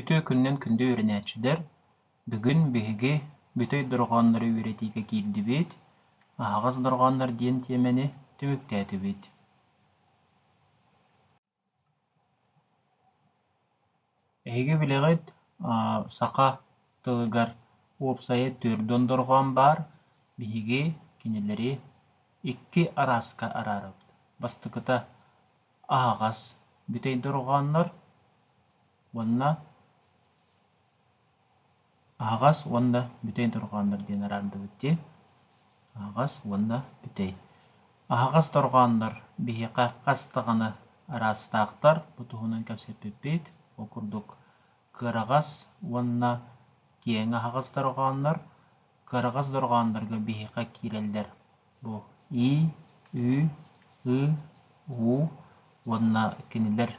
Үтүө күнүнэн күндү үөрэнээччилэр! Бүгүн биһиги бүтэй дорҕооннору үөрэтиигэ киирдибит «Аһаҕас дорҕооннор» диэн тиэмэни түмүктээтибит. Эһиги билэҕит, саха тылыгар уопсайа түөрт дондорҕоон баар, биһиги кинилэри икки арааска араарабыт. Бастакыта аһаҕас бүтэй дорҕооннор уонна аһаҕас уонна бүтэй дорҕооннор диэн араардыбыт дии аһаҕас уонна бүтэй аһаҕас дорҕооннор биһиэхэ хас даҕаны араастаахтар бу туһунан кэпсэппиппит ол курдук кыараҕас уонна киэҥ аһаҕас дорҕооннор Кыараҕас дорҕооннорго биһиэхэ киирэллэр бу и, ү, ы, уу уонна кинилэр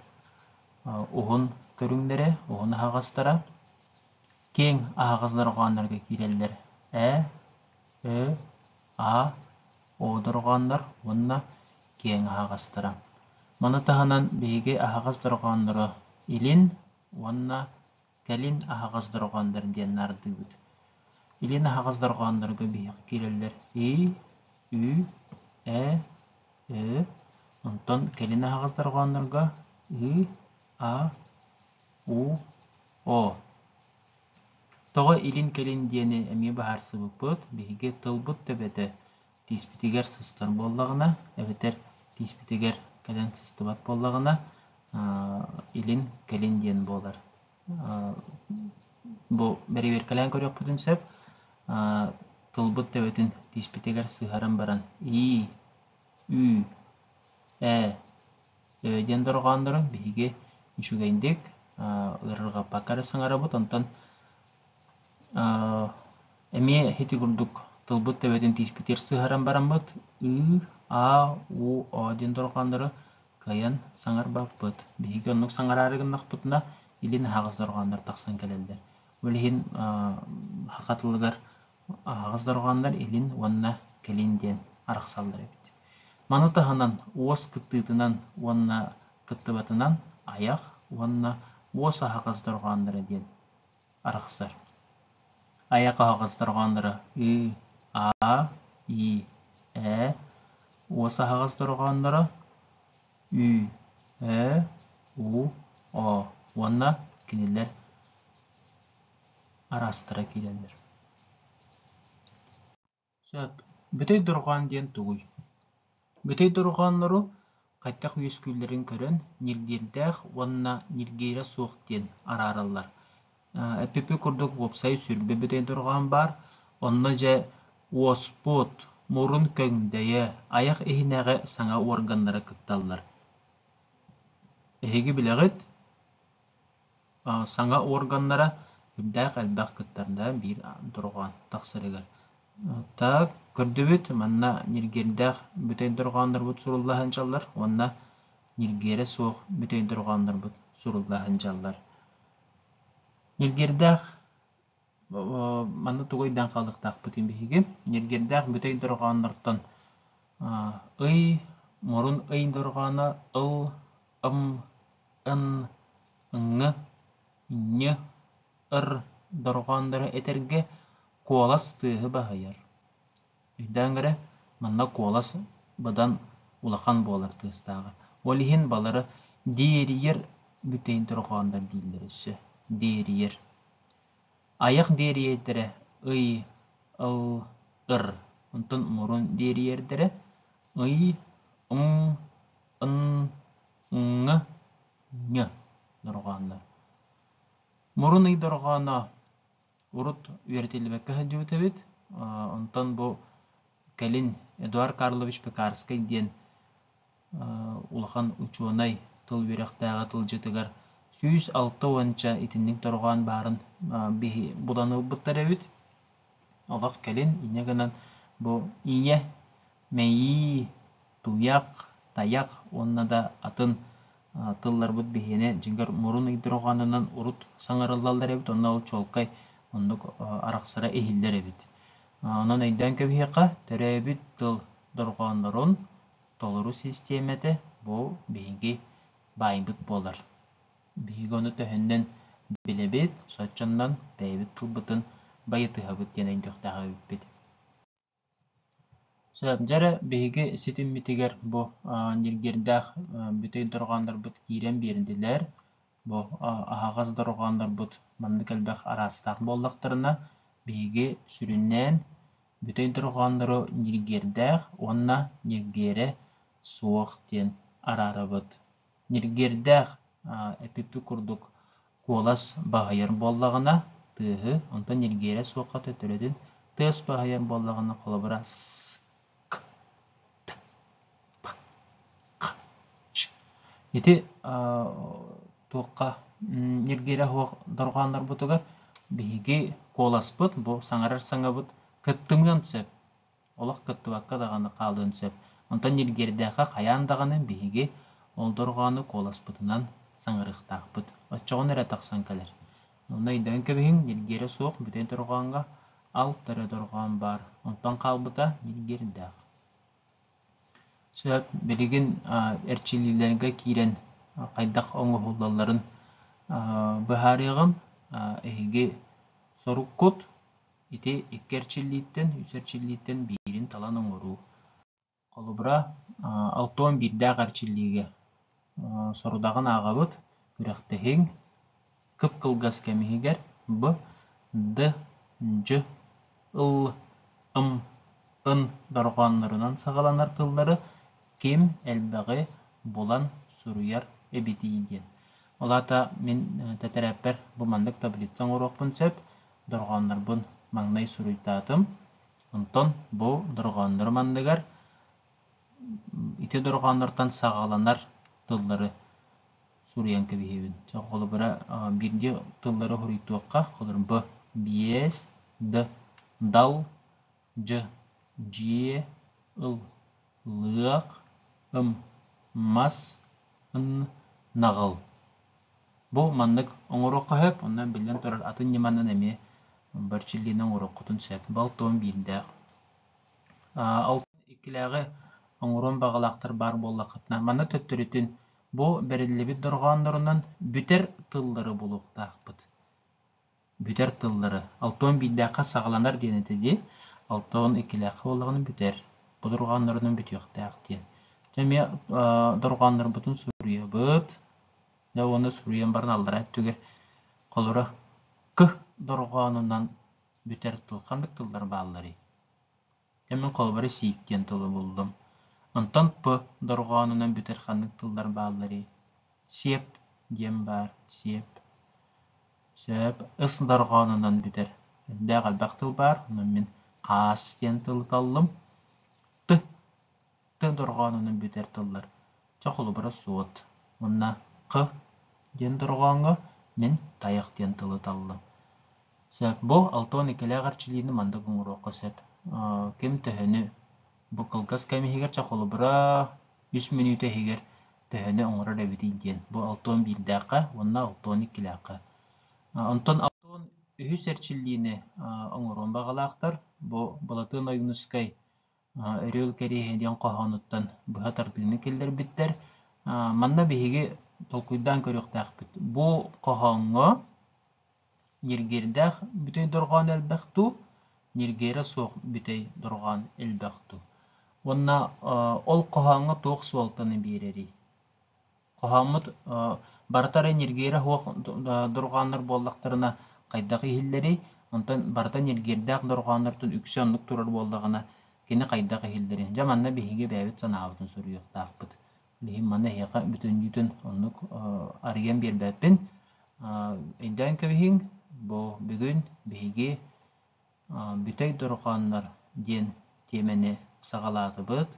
уһун көрүҥнэрэ, уһун аһаҕастара. Киэҥ аһаҕас дорҕооннорго киирэллэр э, ө, а, о дорҕооннор уонна киэҥ аһаҕастара. Маны таһынан биһиги аһаҕас дорҕооннору илин уонна Кэлин аһаҕас дорҕооннор диэн наардыыбыт. Илин аһаҕас дорҕооннорго биһиэхэ киирэллэр и, ү, э, ö, онтон кэлин аһаҕас дорҕооннорго ы, а, у, о. Тоҕо илин-кэлин диэни эмиэ быһаарсыбыппыт, биһиги тылбыт төбөтө тииспитигэр сыстар буоллаҕына, эбэтэр тииспитигэр кэлэн сыстыбат буоллаҕына, илин, кэлин диэн буолар. Бу бэрэбиэркэлээн көрүөхпүтүн сөп. Тылбыт төбөтүн тииспитигэр сыһаран баран ии, ү, э э диэн дорҕооннорун биһиги үчүгэйдик ыарырҕаппакка эрэ саҥарабыт, онтон эмиэ ити курдук тылбыт төбөтүн тииспитигэр сыһаран бараммыт ыы, а, у, о диэн дорҕооннору кыайан саҥарбаппыт. Биһиги оннук саҥараары гыннахпытына, илин аһаҕас дорҕооннор тахсан кэлэллэр. Ол иһин саха тылыгар аһаҕас дорҕооннор илин уонна кэлин диэн арахсаллар эбит. Маны таһынан уос кыттыытынан уонна кыттыбатынан айах уонна уос аһаҕас дорҕоонноро диэн арахсар. Айа хаһаҕас-дорҕоонноро ыы, аа, ии, ээ Уос аһаҕас дорҕоонноро ү, ө, у, о уонна кинилэр араастара киирэллэр Сөп, бүтэй дорҕоон диэн тугуй? Бүтэй дорҕооннору хайдах үөскүүллэрин көрөн ньиргиэрдээх уонна ньиргиирэ суох диэн араараллар. Эппиппит курдук, уопсай сүрбэ бүтэй дорҕоон баар. Онно дьэ уоспут, мурун көҥдөйө, айах иһинээҕи саҥа уорганнара кытталлар. Эһиги билэҕит? Саҥа уорганнара үрдээх элбэх кыттарда биир дорҕоон тахсарыгар. Так, көрдүбүт, манна ньиргиэрдээх бүтэй дорҕооннорбут суруллаһан дьаллар уонна ньиргиэрэ суох бүтэй дорҕооннорбут суруллаһан дьаллар. Ньиргиэрдээх Манна тугу өйдөөн хаалыахтаахпытый биһиги? Ньиргиэрдээх бүтэй дорҕооннортон ый, мурун ый дорҕооно ыл, ым, ын, ҥ, нь, р дорҕооннору этэргэ куолас тыаһы баһыйар. Өйдөөн эрэ, манна куолас быдан улахан буолар тыастааҕа. Ол иһин балары диэрийэр бүтэй дорҕооннор дииллэр өссө. Диэрийэр. Айах диэриэйтэрэ ый, ыл, ыр, онтон мурун диэриэрдэрэ ый, уҥ, ын, ҥҥа, ҥ дорҕооннор. Мурун ый дорҕооно урут үөрэтиллибэккэ сылдьыбыт эбит. Онтон бу кэлин Эдуард Карлович Пекарскай диэн улахан учуонай тыл үөрэхтээҕэ тылдьытыгар сүүс алта уонча итинник дорҕоон баарын биһи булан ылбыттар эбит олох кэлин инньэ гынан бу ийэ мэйии туйах тайах уонна да атын тылларбыт биһиэнэ дьиҥэр мурун ый дорҕоонунан урут саҥарыллаллар эбит онно ол чуолкай оннук арахсара иһиллэр эбит онон өйдөөн кэбиһиэххэ төрөөбүт тыл дорҕооннорун толору систиэмэтэ бу биһиги баайбыт буолар. Биһиги ону төһөннөн билэбит, соччонон бэйэбит тылбытын байытыһабыт диэн өйдүөхтээх эбиппит. Дьэ эрэ биһиги ситиммитигэр бу ньиргиэрдээх бүтэй дорҕооннорбут киирэн биэрдилэр. Бу аһаҕас дорҕооннорбут маннык элбэх араастаах буоллахтарына, биһиги сүрүннээн бүтэй дорҕооннору ньиргиэрдээх уонна ньиргиэрэ суох диэн араарабыт. Ньиргиэрдээх эпиппит курдук куолас баһыйар буоллаҕына тыаһы, онтон ньиргиэрэ суохха төтөрөтүн тыас баһыйар буоллаҕына, холобура, ск. Ити туохха ньиргиирэ суох дорҕооннорбутугар биһиги куоласпыт, бу саҥарар саҥабыт кыттымыан сөп. Олох кыттыбакка даҕаны хаалыан сөп. Онтон ньиргиэрдээххэ хайаан даҕаны биһиги ол дорҕоону куоласпытынан саҥарыахтаахпыт. Оччоҕуна эрэ тахсан кэлэр. Онно өйдөөн кэбиһиҥ, ньиргиэрэ суох бүтүн дорҕооҥҥо алт эрэ дорҕоон баар. Онтон хаалбыта ньиргиэрдээх. Сөп, билигин эрчиллиилэргэ киирэн хайдах оҥоһуллалларын быһаарыаҕым. Эһиги соруккут ити икки эрчиллииттэн, үс эрчиллииттэн биирин талан оҥоруу. Холобура, алтон биирдээх эрчиллиигэ сорудаҕын ааҕабыт, күрэхтэһиҥ кып-кылгас кэм иһигэр б, д, дь, ыл, ым, ын дорҕооннорунан саҕаланар тыллары ким элбэҕи булан суруйар эбитий диэн. Ол аата мин тэтэрээппэр бу маннык таблица оҥоруохпун сөп, дорҕооннорбун маҥнай суруйтаатым, онтон бу дорҕооннорум анныгар ити дорҕооннортон саҕаланар тыллары суруйан кэбиһиэбин. Чэ, холобура, биирдии тыллары хоруйдуохха. Холобура, б, биэс, д, дал, дь, дьиэ, ыл, лыах, ым, мас, ын, наҕыл. Бу маннык оҥоруохха сөп. Онно биллэн турар, атын ньыманан эмиэ бар чиллиини оҥоруоххутун сөп. Балтон биирдээх. алтан иккилээҕи оҥоруон баҕалаахтар баар буоллаххытына, манна төттөрүтүн бу бэриллибит дорҕооннорунан бүтэр тыллары булуохтаахпыт. Бүтэр тыллары. Алтон биирдээххэ саҕаланар диэн этэ дии. Алтон иккилээххэ буоллаҕына бүтэр. Бу дорҕооннорунан бүтүөхтээх диэн. Дьэ, эмиэ дорҕооннорбутун суруйабыт. Дьэ уонна суруйан баран аллараа өттүгэр холоро кы дорҕоонунан бүтэр тыл ханнык тыллар баалларый? Дьэ мин холобура сиик диэн тылы буллум. Онтон п дорҕоонунан бүтэр ханнык тыллар баалларый? Сиэп диэн баар, сиэп. Сөп. Ыс дорҕоонунан бүтэр. Элбэх элбэх тыл баар, онон мин хаас диэн тылы таллым. Т, т дорҕоонунан бүтэр тыллар Чэ, холобура суот. Уонна Х диэн дорҕооҥҥо мин тайах диэн тылы таллым. Сөп. Бу алта уон иккилээх эрчилиини маннык оҥоруохха сөп. Ким төһөнү бу кылгас кэм иһигэр, чэ, холобура, үс мүнүүтэ иһигэр төһөнү оҥорор эбитий диэн. Бу алта уон биирдээххэ уонна алта уон иккилээххэ. Онтон алта уон үһүс эрчиллиини оҥоруон баҕалаахтар. Бу Балатыан Ойуунускай Үрүөл кэриэһэ диэн хоһоонуттан быһа тардыыны киллэрбиттэр. Манна биһиги толкуйдаан көрүөхтээхпит. Бу хоһооҥҥо ньиргиэрдээх бүтэй дорҕоон элбэх дуу, ньиргиэрэ суох бүтэй дорҕоон элбэх дуу? Уонна ол хоһооҥҥо туох суолтаны биэрэрий? Хоһооммут барыта эрэ ньиргиэрэ суох дорҕооннор буоллахтарына хайдах иһиллэрий? Онтон барыта ньиргиэрдээх дорҕооннортон үксэ оннук турар буоллаҕына кини хайдах иһиллэрин. Дьэ манна биһиги бэйэбит санаабытын суруйуохтаахпыт. Билигин манна эһиэхэ бүтүннүүтүн оннук арыйан биэрбэппин. Өйдөөн кэбиһиҥ, бу бүгүн биһиги Бүтэй дорҕооннор диэн тиэмэни саҕалаатыбыт.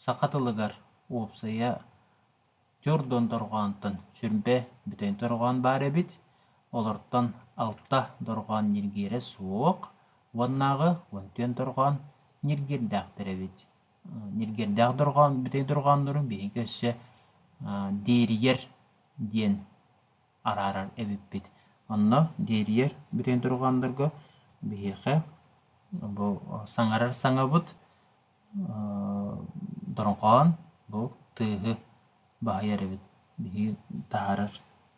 Саха тылыгар уопсайа Түөрт Дуон дорҕоонтон сүрбэ бүтэй дорҕоон баар эбит. Олортон алта дорҕоон ньиргиэрэ суох уоннааҕы уон түөн дорҕоон ньиргиэрдээхтэр эбит. Ньиргиэрдээх дорҕоон, бүтэй дорҕооннору биһиги өссө Дээрийэр диэн арааран эбиппит. Онно диэрийэр бүрэн турҕаандарга биһиэхэ бу саҥарар саҥабыт дорҕоон бу тыаһы баһыйар эбит. Биһиги таһаарар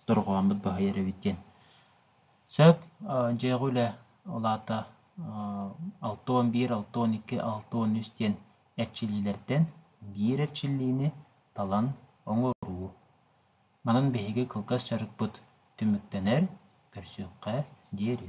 дорҕоонбут баһыйар эбит диэн. Сөп, дьиэҕэ үлэ улаата алта уон биир, алта уон икки, алта уон үс диэн эрчиллиилэртэн биир эрчиллиини талан оҥоруу. Манан биһиги кылгас дьарыкпыт түмүктэнэр, көрсүөххэ диэри